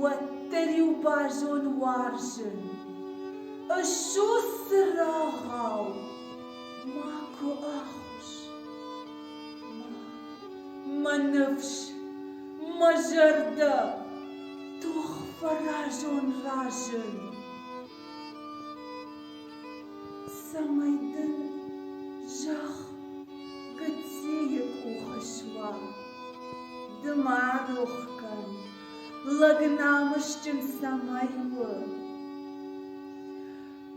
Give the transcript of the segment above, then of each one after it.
Уӕддӕр-иу базон уарзын, Ссус цырагъау, макуы ӕххуыс. Мӕ ныфс, мӕ зӕрдӕ, тох фӕразон разын. Цӕмӕй дын зӕхх гыццийы къухы суа, ды ма рох кӕн, лӕг намысджын цӕмӕй у.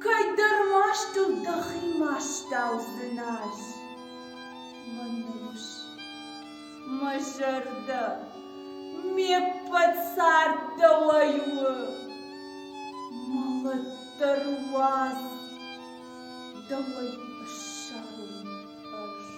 Кӕйдӕр мастыл дӕхи ма стау дзыназ, мӕ нур. Мӕ зӕрдӕ ме ппӕт царддӕуӕй у, мӕлӕтдӕр уадз дӕуӕй ӕссарын ӕз.